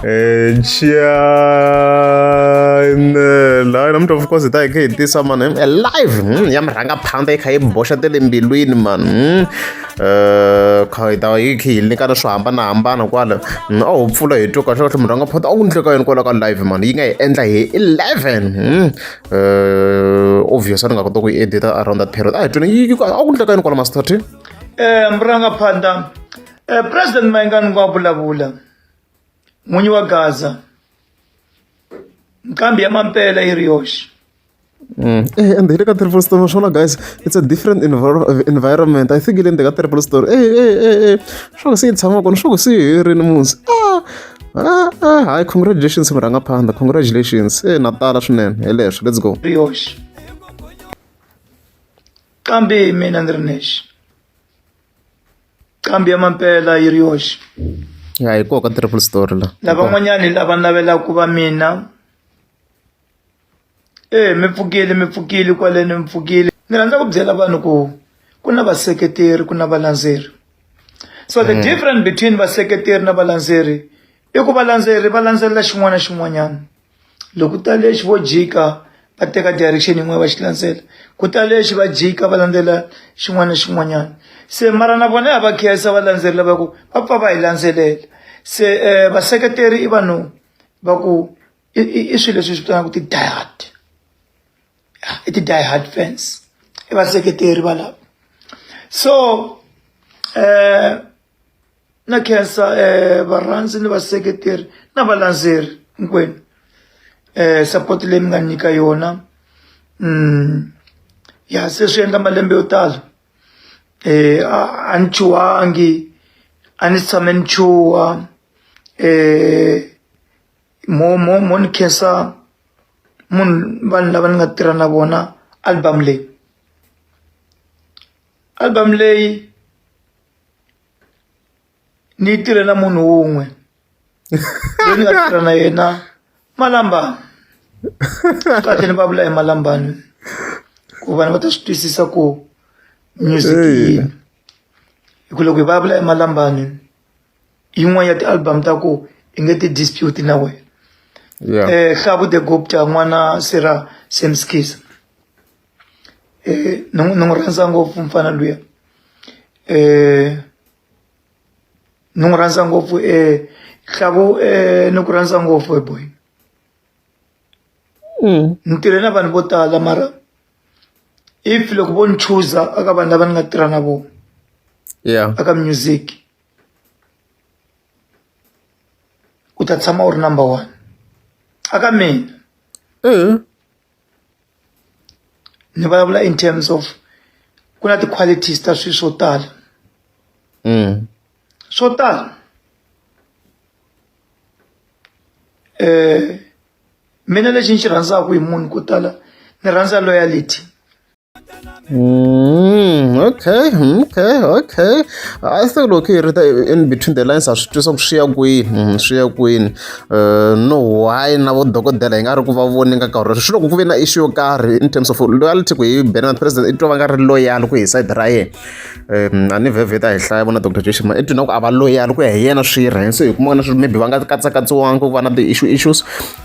Eh, cianela yena mntu of course hi ta hi kha hi tisa mani hmm, alive hmm, ya mi rhanga phanda yi kha yi boxa te le mbilwini mani hmm. eh, kha hi ta yi kha yi nyikana swo hambanahambana kwala a wu pfula hi twa kahle kahle munhu a nga phota a wu ndleka yini kwala ka live mani yi nga hi endla hi eleven eh, obvious a ni nga kota ku yi edita around that period a hi twini yi a wu ndleka yini kwala master t um rhanga phanda Eh, President Mayengani wa vulavula n'winyi wa Gaza nkambi ya mampela yi ri yoxe Mm. Hey, and here ka triple story naswona guys it's a different envir- environment i think le ndzeni ka triple story ey ey ey ey swa ku se yi tshama kona swa ku se yi herini musi ah ah ah hayi congratulations murhanga phanda congratulations e na tala swinene hi leswo let's go ri yoxe kambe mina ni ri nexe qambi ya mampela yi ri yoxe ya hi koho ka triple story la lavan'wanyani lava navelaka ku va mina e mi pfukile mi pfukile kwaleni mi pfukile ni rhandza ku byela vanhu ku ku na vaseketeri ku na valandzeri so the mm. difference between vaseketeri na valandzeri i ku valandzeri va landzelela xin'wana na xin'wanyana loko ta lexi vo jika va teka direction yin'wana va xi landzela ku ta lexi va jika va landzela xin'wana na xin'wanyana se mara na vona ya va khensa va landzelela va ku va pfa va hi landzelela se um vaseketeri i vanhu va ku i swilo leswi hi swi vitanaka ti-diehard i ti-diehard fans i vaseketeri valavo so um na khensa eh, varhandzi ni vaseketeri na valandzeri hinkwenu eh, support leyi mi nga nyika yona mm, ya se swi endla malembe yo tala eh, a ni chuhangi a ni tshame ni chuha eh, mo mo mo ni khensa munhu vanhu lava ni nga tirha na vona album leyi album leyi ni yi tirhela munhu wun'we loyi ni nga tirha na yena malamba kahle ni va vula hi malambani ku vanhu va ta swi twisisa ku music yini hi ku loko hi va vula hi malambani yin'wana ya ti-album ta ku i nge ti dispute na wena um hlavu the gopta n'wana sera samskis eh, ni n'wi- ni n'wi rhandza ngopfu mfana luya eh, ni n'wi rhandza ngopfu eh, hlavu eh, ni ku rhandza ngopfu eh, boy Mm. ni tirhe na vanhu vo tala mara if loko vo ni chuza aka vanhu lava ni nga tirha na vona yeah aka music u ta tshama u ri number one aka mina mm. ni vulavula in terms of ku na ti-qualities ta swilo swo tala mm. swo tala eh mina lexi ni xi rhandzaka hi munhu ko tala ni rhandza loyalty Mm, okay okay okay I think loko hi ri ta in between the lines a swi twisa ku swi ya kwini mm, swi ya kwini eh, no why na vo dokodela hi nga ri ku va voni ka nkarhi swi loko ku ve na issue yo karhi in terms of loyalty ku hi bena president i twa va nga ri loyal ku hi side ra yena a ni vhevheta hi hlaya vona dr jeshima i twina ku a va loyal ku ya hi yena swi rhe so hi kuma na swi maybe va nga katsakatsiwangi ku va na ti-issue issues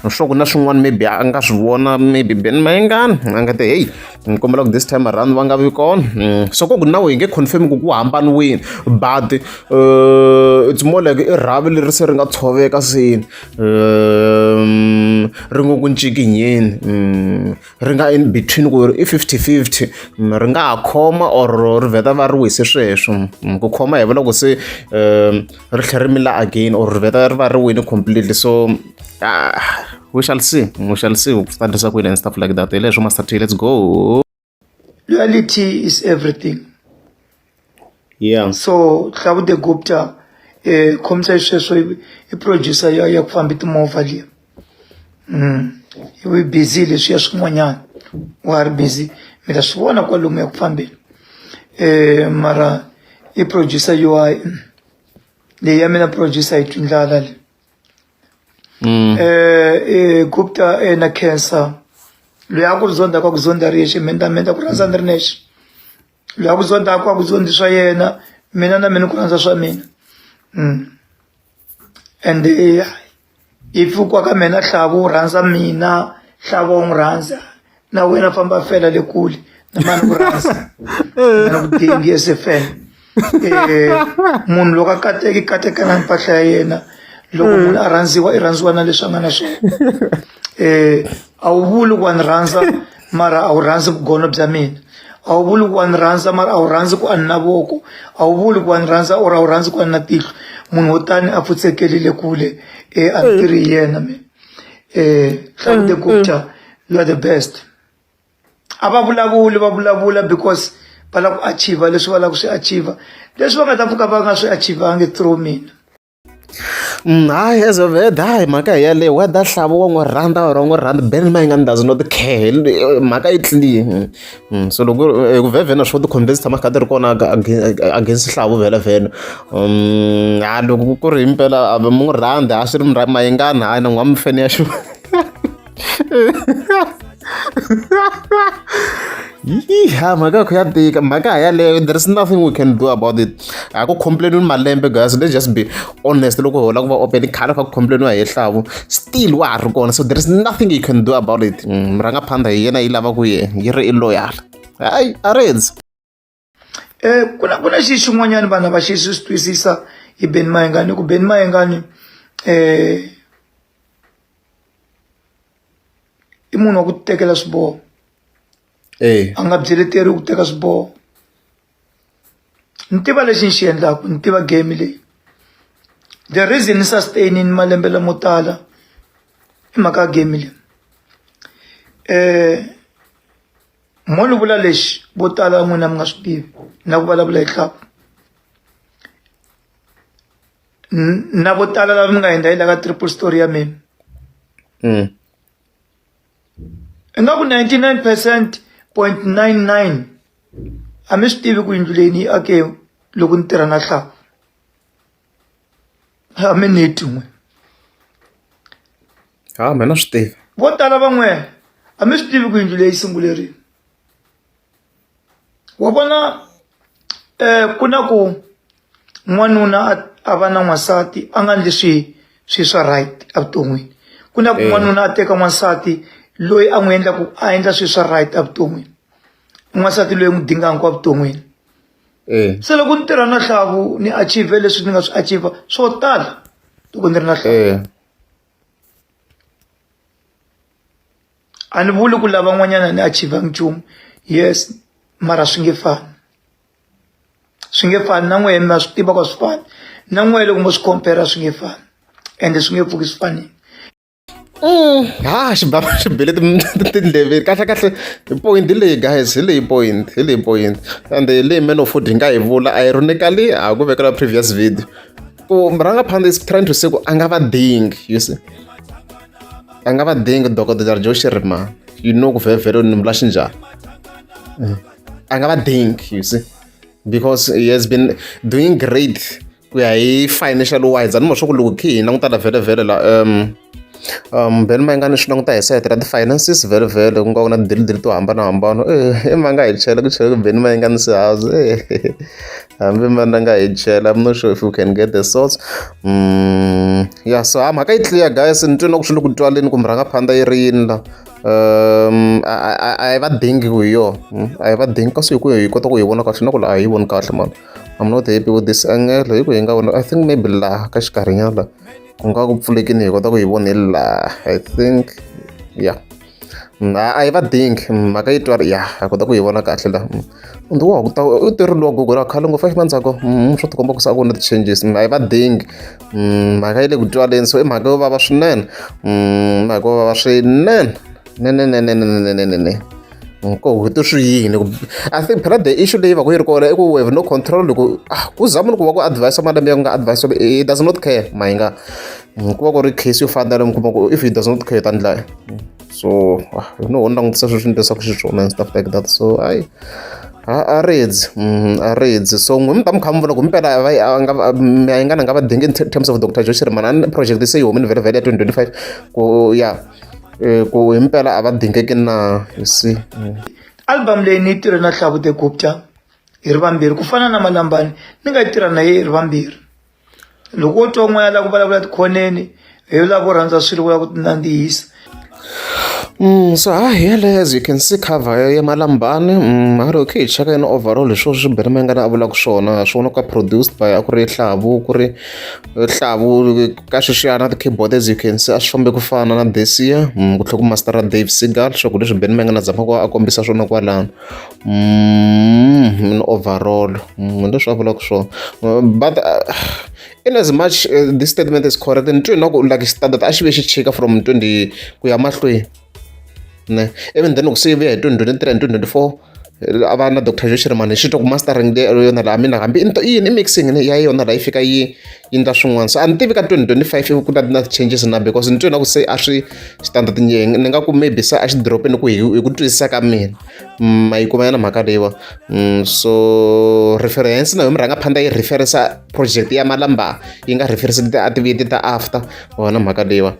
swa ku na swin'wana maybe a nga swi vona maybe ben mayengani a nga te heyi ni kombela ku this time around va nga vi kona mm, so ko ku na we hi nge confirm ku ku hambaniwini but uh, it's more like i rhavi leri se ri nga tshoveka sini um, ri ngo ku ncikinyeni um, ri nga in between ku i 50 50 um, ri nga ha khoma or ri vheta va ri wise sweswo um, ku khoma hi vula ku se um, ri tlhela ri mila again or ri vheta ri va ri wini completely so ah, we shall see we shall see ku ta endlisa ku yini and stuff like that hi leswo master t let's go reality is everything yeah so hlakude gupta um khomisa xisweswo i producer ya ya ku fambi timovha liya u ri busy leswi ya swin'wanyana wa ha ri busy mi ta swi vona kwalomuya ku fambeni um mara i producer loyi leyi ya mina producer yi twi ndlala le um gupta na cancer loyi a ku ri zonda ka ku zonda ri yexe mina mina ku rhandza ni ri nexe loyi a ku zonda a ku a ku zondi swa yena mina na mina ku rhandza swa mina um ende if u kwa ka mina nhlavo wu rhandza mina nhlavo wu n'wi rhandza na wena famba fela le kule na mani ku rhandza na ku dingi esefela eh, munhu loko a kateki katekana mpahla ya yena loko munhu a rhandziwa i rhandziwa na leswi a nga na swona um a wu vuli ku wa ni rhandza mara a wu rhandzi vugono bya mina a wu vuli ku wa ni rhandza mara a wu rhandzi ku a ni na voko a wu vuli ku wa ni rhandza or a wu rhandzi ku a ni na tihlo munhu wo tani a pfutsekelile kule um a ni tirhi hi yena mina um hlakude gupta you are the best a va vulavuli va vulavula because va lava ku achieve leswi va lava ku swi achieve leswi va nga ta pfuka va nga swi achieve-angi through mina Hayi as a word hayi mhaka hi yaleyo whether nxavo wa n'wi rhandza or a wu n'wi rhandzi band ma ingaku does not care mhaka yi clean so loko hi ku vhevhena swo ti-convince ti tshama ti kha ti ri kona against nxavo vhelavhena a loko ku ri himpela a mi n'wi rhandzi a swi ri mi mayingani hayi na n'wina a mi fane ya xi . yiha mhaka kho ya tika mhaka ha yaleyo there is nothing we can do about it a ku complainiwi malembe guys let's just be honest loko hola ku va open khale kha ku complainiwa hi hlavu still wa ha ri kona so there is nothing you can do about it murhangaphandha mm, hi yena yi lava ku ye yi ri i loyal hayi a ri endzi um ku na ku na xi xin'wanyana vanhu lava xi swi swi twisisa hi beni mayengani ku beni mayengani um i munhu wa ku tekela swiboho eh. a nga byeleteriwi ku teka swiboho ni tiva lexi ni xi endlaku ni tiva game leyi the reason ni sustainini malembe lamo tala i mhaka ya game leyi um mo ni vula lexi vo tala n'wina mi nga swi tivi na ku vulavula hi tlhavu na vo tala lava mi nga endla yi la ka triple story ya mina mm. ingaku 99 percent point 99 a mi swi tivi ku yindlu leyi ni yi ake loko ni tirha na hlavu a mi ni tin'we ha mina swi tivi vo tala van'wana a mi swi tivi ku yindlu leyi sungulerini wa vona um ku na ku n'wanuna a va na n'wansati a nga ndli swi swi swa right evuton'wini ku na ku eh. n'wanuna a teka n'wansati loyi a n'wi endlaku a endla swi swa right evuton'wini n'wansati loyi n'wi dinganku evuton'wini se loko ni tirha na hlavu ni achieve leswi ni nga swi achieve swo tala loko ni ri na hlavu a ni vuli ku lava n'wanyana ni achieve nchumu yes mara swi nge fani swi nge fani na n'wehe ma swi tiva ku a swi fani na n'wehe loko mo swi compare swi nge fani ende swi nge pfuki swi fanile Mm, ha xibaba xi bele tindleveni kahlekahle point leyi guys hi leyi point hi leyi point and leyi man of food hi nga yi vula ironically a ku vekela previous video ku murangaphandle is trying to say ku a nga va dingi you see a nga va dingi dokodela jo xirima you know ku vhevhele ni mula xinjhani a nga va dingi you see because he has been doing great ku ya hi financial wise a ni ma swa ku loko khi hi languta la vhelavhele la um um ben ma yi nga ni swi languta hi sayiti ra ti-finances vhelavhele ku nga ku na tidilidili to hambanahambana e eh, ma nga hi chela ku chela ku ben ma yi nga ni sihazi e eh, hambi mana nga hi chela i'm not sure if you can get the source um mm, ya so ha mhaka yi clear guys ni twe na ku swi le ku twaleni kumbe rhanga phanda yi ri yini la um a hi va dingi ku hi yona hmm, a hi va dingi kasi hi ku hi kota ku hi vona kahle na ku la a hi voni kahle mani I'm not happy with this angle hi ku hi nga vona I think maybe laha ka xikarhinyana laha ku nga ku pfulekini hi kota ku yi vona hi laha I think yeah na a yi va dingi mhaka yi twari ya a kota ku yi vona kahle la ndi wa kuta u ti ri logo gora khale ngopfu xi mandzhako mm, swo ti komba ku sa vona ti-changes a yi va dingi mm, mhaka yi le ku twaleni so i mhaka yo vava swinene mm, mhaka yo vava swinene nenenenenenenene nkoho ti swi yini i think phela the issue leyi va ku yi ri kona i ku we have no control loko ah, ku za munhu ku va ku advise malembe ya ku nga advise he does not care mayi nga ku va ku ri case yo fana na mi kuma ku if he does not care ta ndlaya so ah, no ho ni langutisa sweswi ni leswaku swi swona and stuff like that so ayi a redzi mm, a redzi so n'we mi ta mi kha mi vona ku mpela miyingana nga va dingi in terms of dr joshirman a project se yi humini vhele vhele ya 2025 ku ya Eh, ku himpela a va dingeki na you see mm. album leyi ni yi tirhe na hlavute gupta hi ri vambirhi ku fana na malambani ni nga yi tirha na ye hi ri vambirhi loko wo twa n'wana la ku vulavula tikhoneni hi yo lava ku rhandza swilo vula ku tinandzihisa Mm, so ha hi yeleyo as you can see cover ya ya malambani mm, a ri okay hi cheka yini overall hi swona swi benimengana a vulaka swona swona ka produced by a ku ri hlavu ku ri hlavu ka sweswiyana ti-keyboard as you can see a swi fambe ku fana na this year mm, ku tlhela ku mastera dave segal swakudya leswi ben mengana dzamaka a kombisa swona kwalano mm, overall mm, leswi a vulaka swona uh, but uh, in as much uh, this statement is correct ni twi na ku like standard a xi ve xi chika from 20 ku ya mahlweni ne even then loko se yi vuya hi 2023 and 2024 a va na doctor Joe Shirimani hi xi twa ku mastering leyi ro yona laha mina hambi i i yini i mixing ya yona laha yi fika yi yi endla swin'wana so a ni tivi ka twenty twenty five ku na na changes na because ni twe na ku se a swi standard ni ni nga ku maybe se a xi drop-ini ku hi hi ku twisisa ka mina ma yi kuma yana mhaka leyiwa so reference na yo mi rhanga phanda yi referisa project ya malamba yi nga referisa ti-activity ta after wona mhaka leyiwa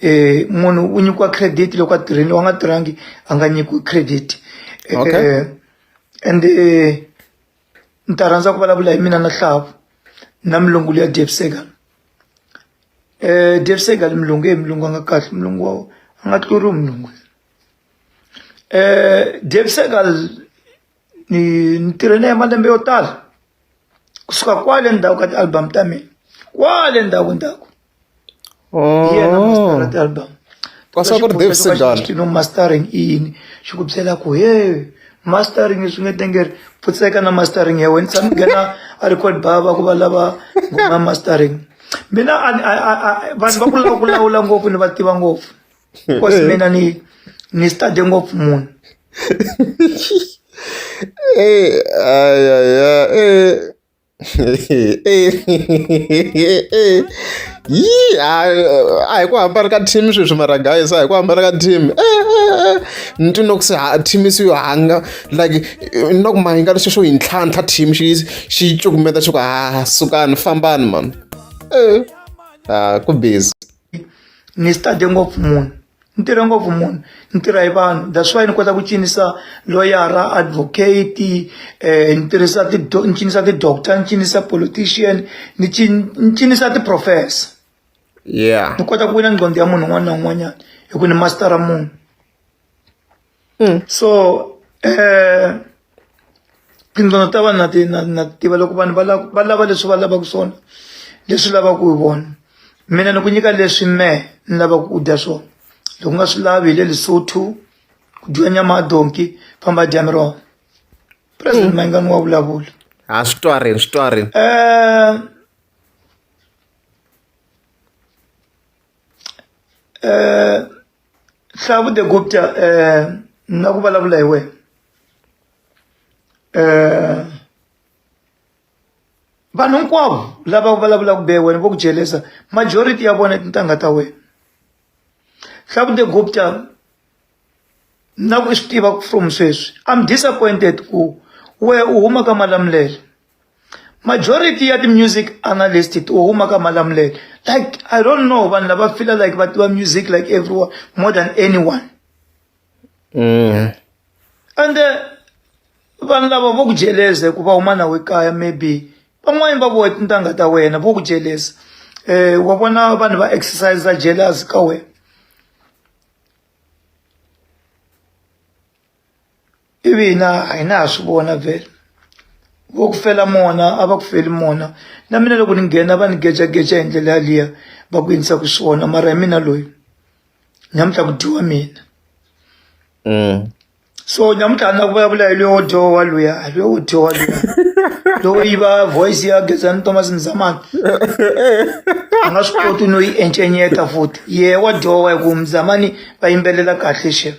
eh munhu u nyikiwa credit loko a tirhini wa nga tirhangi a nga nyikiwi credit eh, okay. eh, and eh, ni ta rhandza ku vulavula hi mina na hlavu na milungu leya debsegal eh debsegal milungu e milungu a nga kahle milungu wa a nga tluriwi milungu eh debsegal ni ni tirhe na ye malembe yo tala kusuka kwale ndzhaku ka ti-album ta mina kwale ndzhaku ndzhaku hi yena master na ti-album Pastor ku ri Dave Segal. no mastering i yini xi ku byela ku he mastering swi nge tengeri pfutseka na mastering ya wena tshami nghena a record baba ku va lava ngoma mastering mina a- a- a- a- vanhu va ku lava ku lawula ngopfu ni va tiva ngopfu because mina ni ni study ngopfu munhu Eh, ay, ay, ay, eh. yii a hi ku hambana ka team sweswi mara guys a hi ku hambana ka team ni twi no ku se team se yo hanga like no ku mahinga lexi xo yi ntlhantlha team xi xi cukumeta xi ku ha sukani fambani mani e a ku busy ni study ngopfu munhu ni tirhe ngopfu munhu ni tirha hi vanhu that's why ni kota ku cinisa loyara advocate um ni tirhisa ni cinisa ti-doctor ni cinisa politician ni ni cinisa ti-professor yeah ni kota ku wina nqondo ya munhu un'wana na un'wanyana hi ku ni mastara munhu mm. so eh tindlela ta vanhu na ti na na tiva loko vanhu va lava va lava leswi va lavaka swona leswi lavaka hi vona mina ni ku nyika leswi me ni lavaka ku dya swona loko nga swi lavi hi le lesotho ku dyiwa nyama ya donki famba dya miroho president mm. mayingani wa vulavula ha swi twarini swi twarini um um hlavu de gupta um na ku vulavula hi wena um vanhu hinkwavo lava vulavulaka be wena vo ku jelesa majority ya vona tintangha ta wena hlavu de gupta na ku swi tiva from sweswi i'm disappointed ku we u huma ka malamulelo majority ya ti-music analyst to huma ka malamulelo like i don't know vanhu lava fila like va tiva music like everyone more than anyone mm. and uh, vanhu lava vo ku jeleza hikuva huma nawe kaya maybe van'wani va vohe tintangha ta wena vo ku jeleza um eh, wa vona vanhu va exercise jealous ka wena ivi hina a hi na ha swi vona vhele vo ku fela mona a va ku feli mona na mina loko ni nghena va ni gejageja hi ndlela yaliya va ku yinisa ku swona mara hi mina loyi nyamutlha ku dyiwa mina mm. so nyamutlha na ku vulavula hi loyo dyowa luya hi loyo dyowa luya lowo yiva voice ya gezani thomas mzamani a nga swi koti no yi encenyeta futhi ye wa dyowa hi ku mzamani va yimbelela kahle xeve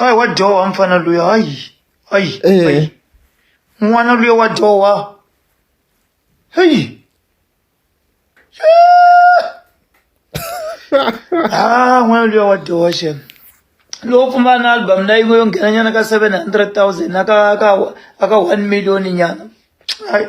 Ay wa dyoha mfana luya ay ay Eh. ay. N'wana luya wa dyoha. Hey. Ah, n'wana luya wa dyoha shem. Loko pfumba na album na yin'we yo nghena nyana ka 700,000 na ka ka ka 1 million nyana. Ay.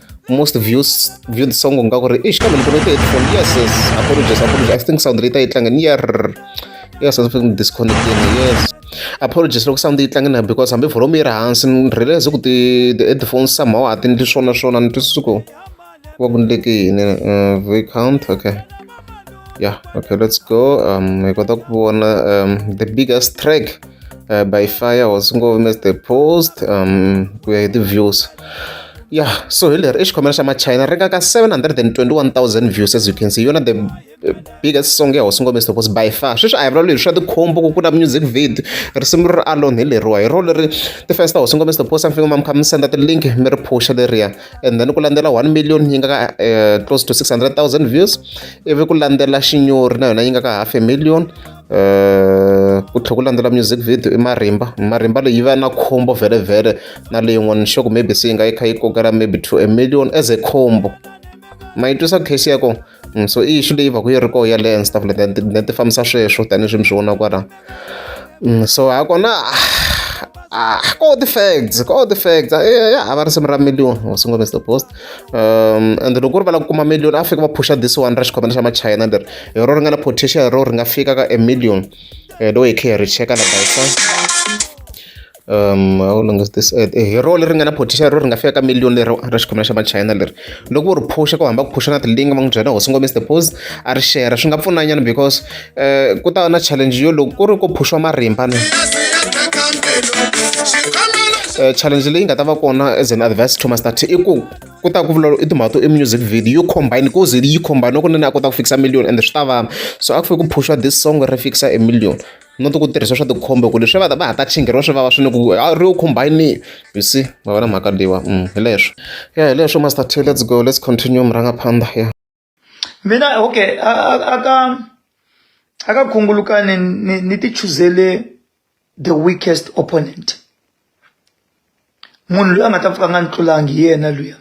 most views view the song nga ku ri ish kambe ni pfunete headphone yes yes apologies apologies i think sound leyi ta yi tlanga ni yer yes i think disconnecting yes apologies loko sound yi tlange na because hambi volume yi ri hansi ni realize ku ti the headphones somehow a ti ndli swona swona ni twisisa ku va ku ndleke yini uh, v count okay yeah okay let's go um hi kota ku vona um the biggest track uh, by fire was ngopfu miss the post um ku ya hi ti-views ya so hi leri i xikhomela xa machina ri nga ka 721000 views as you can see yona the biggest song ya hosi ngombe stopos by far sweswi a hi vulavula hi swa tikhombo ku kula music vid risimu ri alone hi leriwa hi ro leri ti-fans ta hosi ngombe stopos amfika ma mi kha mi senda ti-link mi ri phusha leriya and then ku landzela 1 million yi nga ka eh, close to 600000 views ivi ku landzela xinyori na yona yi nga ka half a million eh, ku tlhela ku landzela music video i marimba marimba leyi va na khombo vhele na leyin'wana sure ku maybe se yi nga yi kha yi kokela maybe to a million as a khombo ma yi twisa case ya kona mm, so i issue leyi va ku yi ri koho yaleyo and stuff like that ti fambisa sweswo tanihi swi mi swi vona kwala mm, so ha kona ah, ah ko ti facts ko ti facts eh, ya hava risimu ra million wasingomesta post ende loko ku ri va lava ku kuma million a fika va phusha this one ra xikhwameni xa machayina leri hi rona ri nga na potential hi rona ri nga fika ka a million um loko hi kha hi ri cheka la bayisa um how long is this ad hi rona leri nga na potential ro ri nga fika ka million leri ra xikhwameni xa machayina leri loko u ri phusha ku hamba ku phusha na ti-link va n'wi byela hosi ngomisi the pose a ri share swi nga pfunanyana because um ku ta va na challenge yo loko ku ri ku phuxiwa marimba ni um challenge leyi nga ta va kona as an advice to master t i ku ku ta ku vulavula i timhaka to i music video yo combine ku ze yi combine loko nene a kota ku fikisa million and swi ta vana so a ku fike ku phuxiwa this song ri fikisa a million no ti ku tirhisa swa tikhombe ku leswi va ta va ha ta chingheriwa swi vava swinene ku a ri yo combine you see va va na mhaka leyiwa mm, hi leswo ya hi leswo master t let's go let's continue murhangaphandha ya mina okay aka aka khungulukani ni ni ti chuzele the weakest opponent munhu loyi a nga ta pfuka a nga ni tlulangi hi yena luya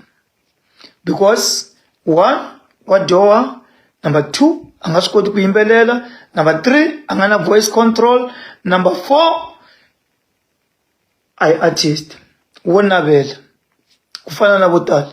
because one wa dyoha number two a nga swi koti ku yimbelela number three a nga na voice control number four a yi artist wo navela ku fana na vo tala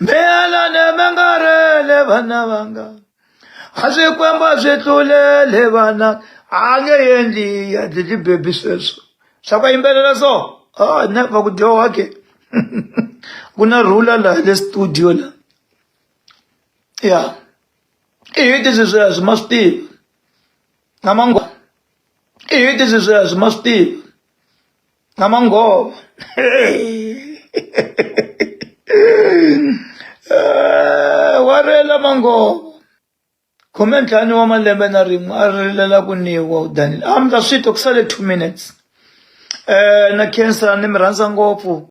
mina ni mi nga rele vana vanga a swikwembu a swi tlulele vana a nge endli ya dlidli bebi sweswo swa ku yimbelela so a ne va ku dyoha ke ku na rhula laha le studio la ya i hiti swi sweswo ma swi tiva na mangwana i hiti swi sweswo ma swi tiva na mangova eh, wa rela mangova khume ntlhanu wa malembe na rin'we a rilela ku niwa u danile a mi ta swi twa ku sale two minutes um na khensa ni mi rhandza ngopfu